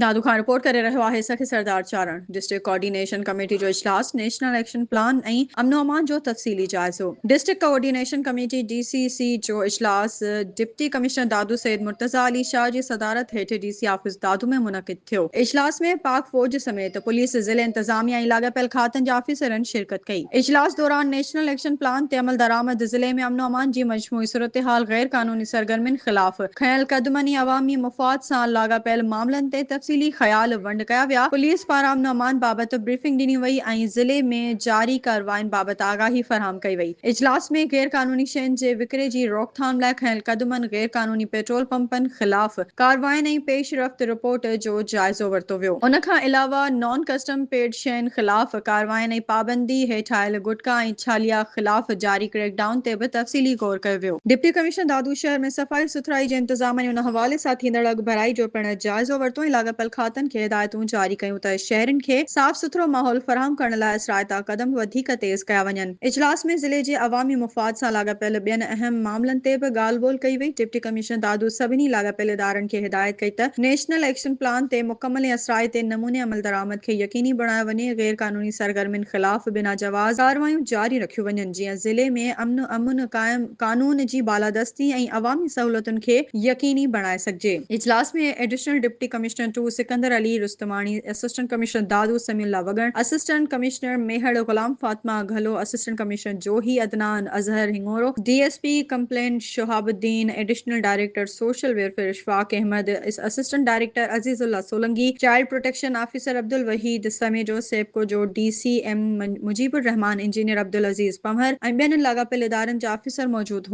Dadu Khan report ڪري رهيو آهي Sakhi Sardar Charan district coordination committee جو اجلاس نيشنل ايڪشن پلان ۽ امن و امان جو تفصيلي جائزو district coordination committee D C C جو اجلاس ڊپٽي ڪمشنر دادو سيد مرتضيٰ علي شاهه جي صدارت هيٺ ڊي سي آفيس دادو ۾ منعقد ٿيو اجلاس ۾ پاڪ فوج سميت پوليس ضلعي انتظاميا ۽ لاڳاپيل کاتن جي آفيسرن شرڪت ڪئي اجلاس دوران نيشنل ايڪشن پلان تي عملدرآمد ضلعي ۾ امن و امان جي مجموعي صورتحال غيرقانوني سرگرمين خلاف کنيل قدمن ۽ عوامي مفاد سان لاڳاپيل معاملن تي تفصيلي خيال ونڊ ڪيا ويا، پوليس پاران امن امان بابت بريفنگ ڏني وئي ۽ ضلعي ۾ جاري ڪاررواين بابت آگاهي فراهم ڪئي وئي، اجلاس ۾ غير قانوني شين جي وڪري جي روڪٿام لاء کنيل قدمن، غير قانوني پيٽرول پمپن خلاف ڪاررواين ۽ پيش رفت رپورٽ جو جائزو ورتو ويو. ان کان علاوه نان ڪسٽم پيڊ شين خلاف ڪاررواين ۽ پابندي هيٺ آيل گٽڪا ۽ ڇاليا خلاف جاري ڪريڪ ڊائون تي به تفصيلي غور ڪيو ويو. ڊپٽي ڪمشنر دادو شهر ۾ صفائي سٿرائي جي انتظام ۽ ان حوالي سان ٿيندڙ اڳڀرائي جو پڻ جائزو ورتو ۽ لاڳاپيل کاتن کي هدايتون جاري ڪيون ته شهرين کي صاف سٿرو ماحول فراهم ڪرڻ لاء اثرائتا قدم وڌيڪ تيز ڪيا وڃن. اجلاس ۾ ضلعي جي عوامي مفاد سان لاڳاپيل ٻين اهم معاملن تي به ڳالهه ٻولهه ڪئي وئي. ڊپٽي ڪمشنر دادو سڀني لاڳاپيل ادارن کي هدايت ڪئي ته نيشنل ايڪشن پلان تي مڪمل ۽ اثرائتي نموني عملدرآمد کي يقيني بڻايو وڃي، غير قانوني سرگرمين خلاف بنا جواز ڪارروايون جاري رکيون وڃن، جيئن ضلعي ۾ امن امن قائم، قانون جي بالادستي ۽ عوامي سهولتن کي يقيني بڻائي سگهجي. اجلاس ۾ additional deputy commissioner two Sikandar Ali Rustamani, assistant commissioner Dadu Sami Ullah Wagan, assistant commissioner Mehar Ghulam Fatima Ghallu, assistant commissioner Johi Adnan Azhar Hingoro, D S P complaint Shahab Uddin, additional director social welfare Ashfaq Ahmed, assistant director Aziz Ullah Solangi, child protection officer Abdulwaheed Samejo, SEPCO جو D C M Mujeeb ur-Rehman, engineer Abdulaziz Panhwar ۽ ٻين لاڳاپيل ادارن جا آفيسر موجود هئا.